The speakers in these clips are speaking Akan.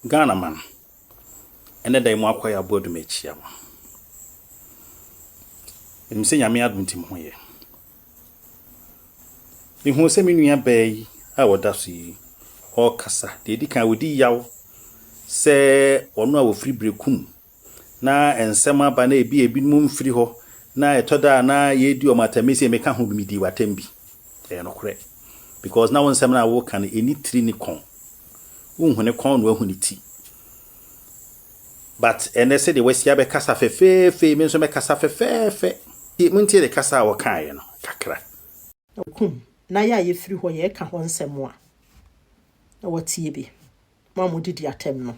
Ghana man, ɛnɛ da yi mo akɔ yɛ aboa dum akyia mo. Menim sɛ nyame adom nti mo ho yɛ. Mehuu sɛ me nua baa yi a ɔda so yi ɔrekasa, deɛ ɛdi kan ɔdi yaw sɛ wɔn a wɔfiri Berekum na nsɛm aba na ebi a ebinom mfiri hɔ, na ɛtɔ da a na yɛredi wɔn atɛm. Me sɛ meka ho bi, medii w'atɛm bi. Ɛyɛ nokorɛ. Because na wo nsɛm no a woreka no, ɛni tiri ne kɔn. Wonhu ne kɔn na wahu ne ti. But ɛnɛ sɛdeɛ wasi abɛkasa fɛfɛɛfɛ, me nso mɛkasa fɛfɛɛfɛ. Montie ne kasa a wɔkaeɛ no kakra. Kum, na yɛ a yɛfiri hɔ yɛreka hɔ nsɛm a, na wɔatie bi. mo a modidi atɛm no,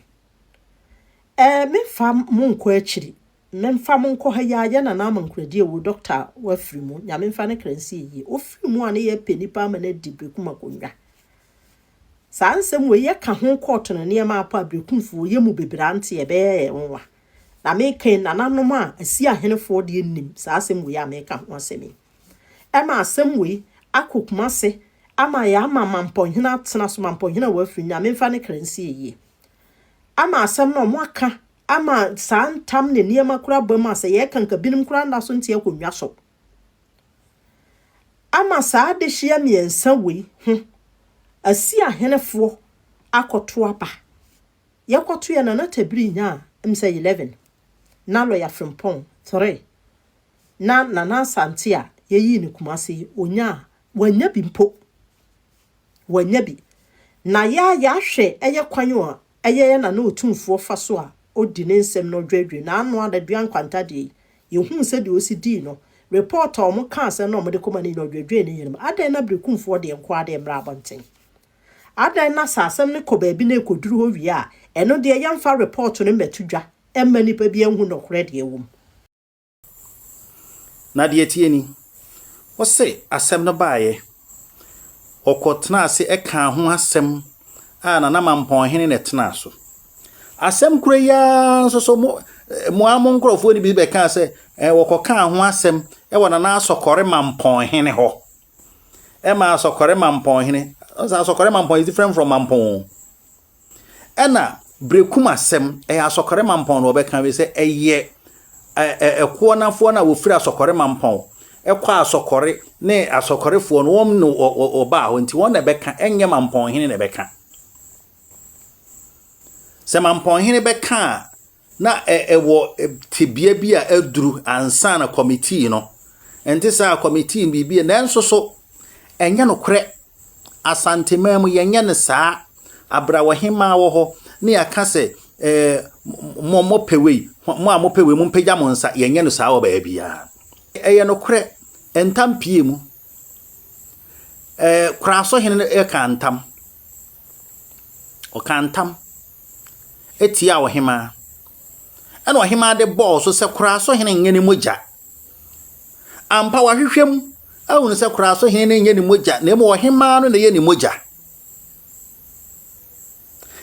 ɛɛ memfa mo nkɔ akyiri, memfa mo nkɔ ha yi a, yɛ Nana Ama Nkuradi awu, dɔkta a wafiri mu, Nyame mfa ne kra nsi ayie, ɔfiri mu a ne yɛpɛ nnipa ama no adi Berekum akonnwa. Saa nsɛm wei yɛka ho kɔɔto no nneɛma apa a Berekumfoɔ yɛ mu bebree ante, ɛbɛyɛ yɛn nwa. Na mereka yi, nananom a Asia ahenefoɔ deɛ nnim saa asɛm wei a mereka ho asɛm yi. Ɛna asɛm wei akɔ Kumase ama yɛama Mampɔnhene atena so, Mampɔnhene a wɔafiri no, Nyame mfa ne kra nsi ayie. Ama asɛm no wɔaka ama saa ntam ne nneɛma koraa aba mu a sɛ yɛreka nka binom koraa nna so nte akonnwa so. Ama saa adehyeɛ mmiɛnsa wei ho Asia ahenefoɔ akɔto aba. Yɛkɔtoeɛ na na Tabiri nya msɛ eleven, na Lɔya Frimpong three, na Nana Asante a yɛyii no Kumasi yi, ɔnyaa, wannya bi mpo. Wannya bi. Na yɛ a yɛahwɛ yɛ kwan a ɛyɛ yɛ Nana Otumfoɔ fa so a ɔdi ne nsɛm na ɔdwaadwaa na ano adaduaa nkwantadeɛ yi, yɛhuu sɛ deɛ ɔsi dii no, report a wɔkaa sɛ na wɔde kɔma no nyinaa ɔdwaadwaa ne yere mu. Adɛn na Berekumfoɔ deɛ nko ara deɛ mmra abɔnten? Adɛn na sɛ asɛm no kɔ baabi na ɛkɔduru hɔ wie a, ɛno deɛ yɛmfa repɔɔto no mmɛto dwa mma nnipa biara nhu nokorɛ deɛ ɛwɔ mu? Na deɛ ɛteɛ ni, wo se asɛm no baeɛ, wɔkɔtenaa ase kaa ho asɛm a Nana Mampɔnhene na ɛtenaa so. Asɛm korɔ yi ara nso so mo mo ara mo nkurɔfoɔ no bi bɛkaa sɛ wɔkɔkaa ho asɛm wɔ Nana Asɔkɔre Mampɔnhene hɔ. ɛma asɔkɔre mampɔn hene ɔsɛ asɔkɔre mampɔn is different from mampɔn ɛna berekum asɛm ɛyɛ asɔkɔre mampɔn na ɔbɛka wi sɛ ɛyɛ ɛkoɔ nafoɔ na wɔfiri asɔkɔre mampɔn ɛkɔ asɔkɔre ne asɔkɔrefoɔ no wɔn na ɔbaa hɔ nti wɔn na ɛbɛka ɛnyɛ mampɔn hene na ɛbɛka sɛ mampɔn hene bɛka a Na ɛwɔ tebea bi a aduru ansa na kɔmitii no. Ɛnte saa a kɔmitii biribi, nanso so ɛnyɛ nokorɛ? Asanteman mu yɛnyɛ no saa. Abrawohemmaa wɔ hɔ ne yɛaka sɛ ɛɛ mo mo pɛ wei, mo a mo pɛ wei mo mpagya mo nsa. Yɛnyɛ no saa wɔ baabiara. Ɛyɛ nokorɛ, ntam pie mu. Ɛɛ Kurasohene no rekaa ntam. Ɔkaa ntam tiaa ɔhemaa. Ɛna ɔhemaa de bɔɔ so sɛ Kurasohene nyɛ ne mogya. Ampa wɔahwehwɛ mu ahunu sɛ Kurasohene no nyɛ ne mogya na mmom ɔhemaa no na ɛyɛ ne mogya.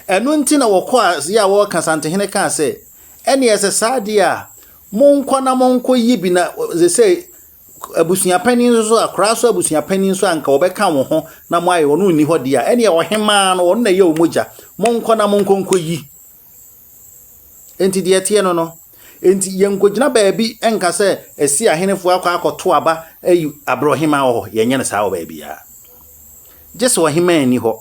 Ɛno nti na wɔkɔɔ aseɛ a wɔreka Santehene kaa sɛ ɛne ɛsɛ saa deɛ a monkɔ na monkɔyi bi na sɛ sɛ Abusua panin nso so, akora so abusua panin nso a anka wɔbɛka wo ho na mo ayɛ ɔno nni hɔ deɛ a, ɛneɛ ɔhemaa no ɔno na ɛyɛ wɔn mogya, monkɔ na monkɔ nkɔ yi. Enti deɛ ɛteɛ no no, enti yɛnkɔgyina baabi nka sɛ ɛsi ahenefoɔ akɔ akɔto aba ayi abrɛ ɔhemaa wɔ hɔ, yɛnyɛ no saa wɔ baabiara. Gye sɛ ɔhemaa nni hɔ.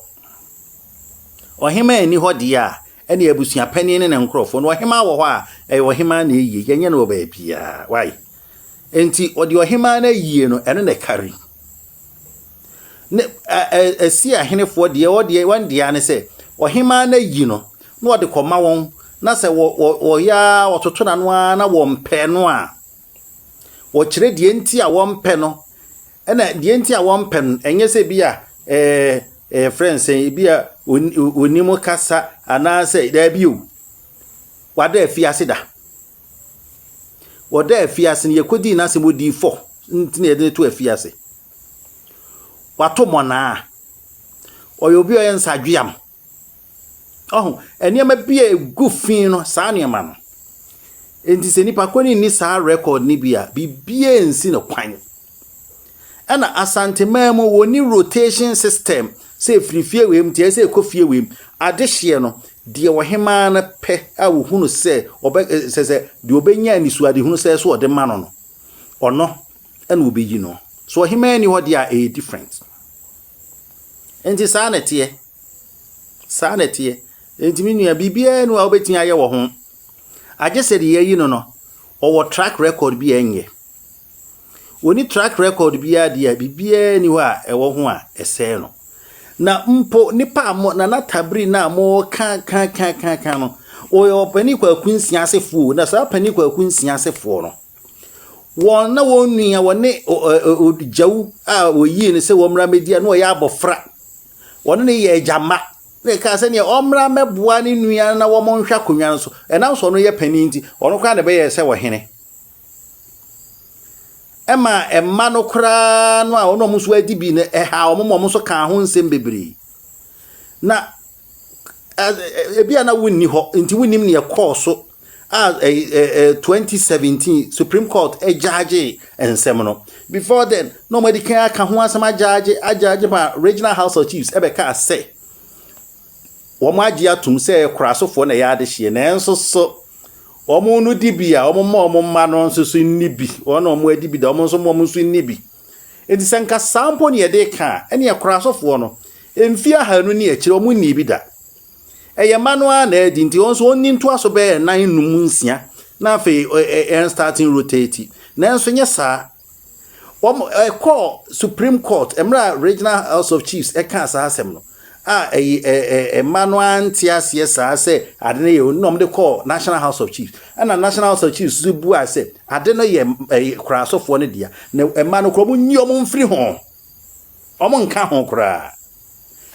Ɔhemaa nni hɔ deɛ a, ɛneɛ abusua panin ne ne nkorɔfoɔ no, ɔhemaa wɔ hɔ a, ɛyɛ ɔhemaa na ɛyie, yɛnyɛ no wɔ baabiara. Why? Enti wɔde ɔhemmaa no ayie no, ɛno na ɛkari. Ne ɛ ɛ Asia ahenefoɔ deɛ wɔ deɛ wɔn deɛ ne sɛ ɔhemmaa no ayi no na wɔde kɔma wɔn na sɛ wɔ wɔ wɔyɛ ara wɔtoto n'ano ara na wɔmpɛ no a wɔkyerɛ deɛ nti a wɔmpɛ no ɛna deɛ nti a wɔmpɛ no ɛnyɛ sɛ bi a ɛɛ ɛɛ frɛ nsɛn bi a onim kasa anaasɛ daabi o wada afiase da. Wɔ dɛ afiase no, yekodii n'asɛm odiyifo ntsi na yɛdze no too afiase. Ɔato mbɔnaa. Ɔyɛ obi a ɔyɛ nsadweam. Ɔho, nneɛma bi a egu fi no, saa nneɛma no. Ntsi sɛ nyimpa kor no nnyi saa rekɔd no bi a, biribiara nnsi no kwan. Ɛna Asanteman mu wɔnni rotation system sɛ ɛfiri fie wei mu nti ɛyɛ sɛ ɛkɔ fie wei mu. Adehyeɛ no, deɛ ɔhemaa no pɛ a wɔhu no sɛ ɔbɛ sɛ sɛ deɛ ɔbɛnya anisoadehunu sɛ so ɔde ma no no, ɔno ɛna wɔbɛyi no. So ɔhemaa ni hɔ deɛ a ɛyɛ different. Nti saa na ɛteɛ. Saa na ɛteɛ. Nti me nua biribiara ni a wobɛtumi ayɛ wɔ ho. Agye sɛ deɛ yɛayi no no, ɔwɔ track record bi a ɛnyɛ. Wɔnni track record biara deɛ a biribiara ni hɔ a ɛwɔ ho a ɛsɛe no. Na mpo nipa a mo Nana Tabiri no a moka ka ka ka ka no, wɔyɛ ɔpanin kwaku nsia asefoɔ na saa panin kwaku nsia asefoɔ no, wɔn na wɔn nua wɔne Gyawu a wɔyii no sɛ wɔmmra mmɛdi a na ɔyɛ abɔfra. Wɔne no yɛ agya mma. Na ɛkaa sɛ neɛ ɔmmra mmɛboa ne nua na wɔn nhwɛ akonnwa no so. Ɛnam sɛ ɔno yɛ panin nti, ɔno koraa na ɛbɛyɛ sɛ ɔhene. ɛma mma no koraa no a wɔn a wɔn nso adi bi no, ɛha wɔn ma wɔn nso kaa ho nsɛm bebree. Na ebi a na wonni hɔ nti wonnim nea ɛkɔɔ so a 2017 Supreme Court gyaagye nsɛm no. Before then, na wɔn adi kan aka ho asɛm agyaagye agyaagye ma Regional House of Chiefs ɛbɛkaa sɛ. wɔagye atom sɛ kurasofoɔ na ɛyɛ adehyeɛ nanso so wɔn no di bi a wɔn ma wɔn mma no nso so nni bi wɔn na wɔn adi bi da wɔn nso wɔn nso nni bi nti sɛ nka saa mpo ne yɛde ka a ɛne kurasofoɔ no mfie ahanu ne akyire wɔn nni bi da ɛyɛ mma no ara na adi nti wɔn nso wɔn ni ntoa so bɛyɛ nan num nsia na afei yɛn starting rotate nanso nyɛ saa Wɔn ɛkɔɔ Supreme Court mmerɛ a Regional House of Chiefs ɛkaa saa asɛm no a ɛyi ɛ ɛ ɛma no ante aseɛ saa sɛ ade no yɛ wɔn na wɔn de kɔɔ National House of Chiefs ɛna National House of Chiefs nso buaa sɛ ade no yɛ ɛyɛ koraa asɔfoɔ no dea na ɛma no koraa wɔn nyi wɔn mfiri ho wɔn nka ho koraa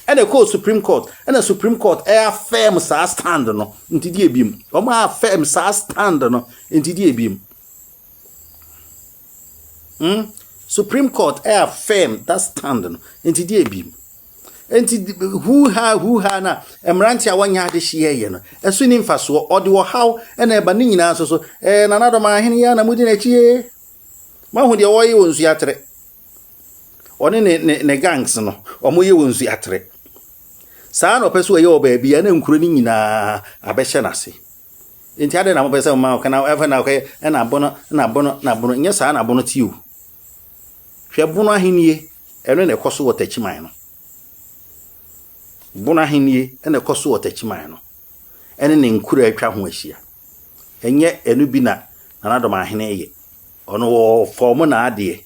ɛna ɛkɔɔ Supreme Court ɛna Supreme Court ɛyɛ afɛm saa stand no nti deɛ ebiem wɔn afɛm saa stand no nti deɛ ebiem. Hmm, Supreme Court a affirm that stand no, nti deɛ bi mu. Nti huuha huuha na mmerante a wɔnyɛ adehyeɛ yɛ no, ɛso ni mfasoɔ, ɔde ɔhaw na ɛba ne nyinaa nso so. Ɛɛ nanadɔm ahene yɛ na mudi n'akyi yɛ. Mahu deɛ wɔyɛ wɔ nsu atere. Ɔne ne ne ne gangs no, wɔyɛ wɔ nsu atere. Saa na ɔpɛ so ɔyɛ wɔ baabi a na nkuro no nyinaa abɛhyɛ n'ase. Enti adɛn na mopɛ sɛ moma ɔka na afei na ɔka ɛna bono na bono na bono nyɛ saa na bono te o hwɛ bono ahennie ɛno na ɛkɔ so wɔ takyiman no bono ahennie ɛna ɛkɔ so wɔ takyiman no ɛne ne nkura atwa ho ahyia ɛnyɛ ɛno bi na nanadɔm ahene yɛ ɔno wɔ fɔm na adeɛ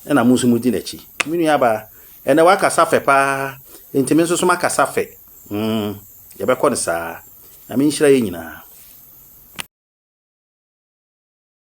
Ɛna mo nso modi n'akyi. Me nua baa, ɛnɛ wakasa fɛ paa, nti me nso so makasa fɛ. Mm, yɛbɛkɔ no saa. Nyame nhyira yɛ nyinaa.